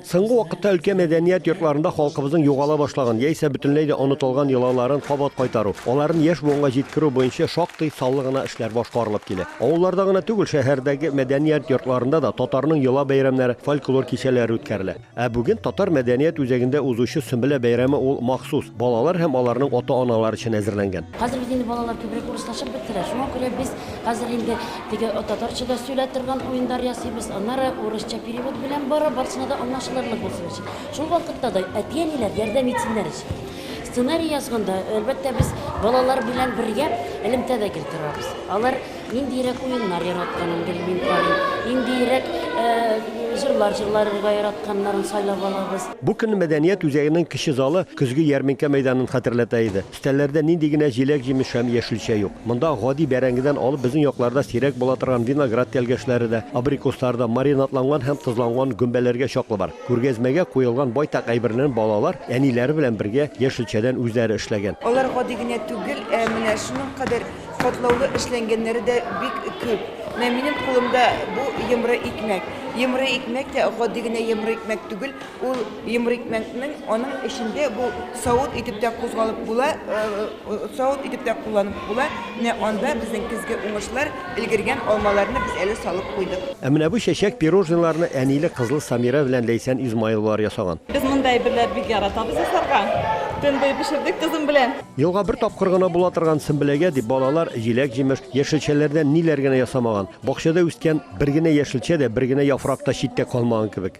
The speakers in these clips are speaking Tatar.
Соңгы вакытта өлкә мәдәният йортларында халкыбызның югала башлаган яисә бөтенләй дә онытылган йолаларын кабат кайтару, аларын яшь буынга җиткерү буенча шактый саллы гына эшләр башкарылып килә. Авылларда гына түгел, шәһәрдәге мәдәният йортларында да татарның йола бәйрәмнәре, фольклор кичәләре үткәрелә. Ә бүген Татар мәдәният үзәгендә узучы Сөмбелә бәйрәме ул махсус, балалар һәм аларның ата-аналар өчен әзерләнгән. Хәзер бит инде балалар күбрәк урыслашып бетерә. Шуңа күрә без хәзер инде Теге татарчада сөйлә торган уендар ясыйбыз, аннары урысча перевод белән барып, барсына да аңлашылырлык булсын өчен. Шул вакытта да әти-әниләр ярдәм итсеннәр өчен. Сценарий язганда, әлбәттә, без балалар белән бергә элемтә дә гел торабыз. Алар ниндиерәк уеннар яратканын гел мин карыйм, ниндиерәк җырлар җырларырга яратканнарын сайлап алабыз. Бу көнне мәдәният үзәгенең кече залы көзге ярминкә мәйданын хәтерләтә иде. Кесәләрдә нинди генә җиләк-җимеш һәм яшелчә юк. Монда гади бәрәңгедән алып безнең якларда сирәк була торган виноград тәлгәшләре дә, абрикослар да, маринадланган һәм тозланган гөмбәләргә чаклы бар. Күргәзмәгә куелган байтак әйбернен балалар, әниләре белән бергә, яшелчәдән үзләре эшләгән. Алар гади генә түгел, ә менә шуның кадәр катлаулы эшләнгәннәре дә бик күп. Менә минем кулымда бу йомры икмәк. Йомры икмәк тә гади генә йомры икмәк түгел. Ул йомыр икмәкнең аның эчендә бу савыт итеп тә кузгалып була, савыт итеп тә кулланып була. Менә анда безнең көзге уңышлар, өлгергән алмаларны без әле салып куйдык. Ә менә бу чәчәк пирожныйларны әниле, кызлы Самира белән Ләйсән Измайловалар ясаган. Без мондый әйберләр бик яратабыз ясарга. Төн буе пешердек кызым белән. Елга бер тапкыр гына була торган Сөмбеләгә дип балалар җиләк-җимеш, яшелчәләрдән ниләр генә ясамаган. Бакчада үскән бер генә яшелчә дә, бер генә яфрак та читтә калмаган кебек.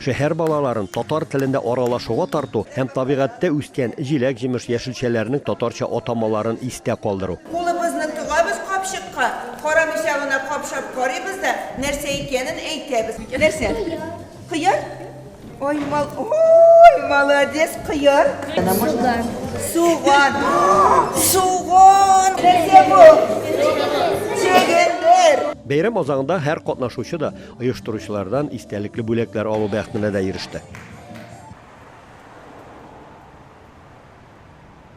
Шәһәр балаларын татар телендә аралашуга тарту һәм табигатьтә үскән җиләк-җимеш яшелчәләренең татарча атамаларын истә калдыру. Кулыбызны тыгабыз капчыкка, карамыйча гына капшап карыйбыз да, нәрсә икәнен әйтәбез. Нәрсә? Кыяр? Ай, мал, ой, молодец, кыяр. Суган. Суган. Суган! Нәрсә бу? Чөгендер! Бәйрәм азагында һәр катнашучы да Оештыручылардан истәлекле бүләкләр алу бәхетенә дә иреште.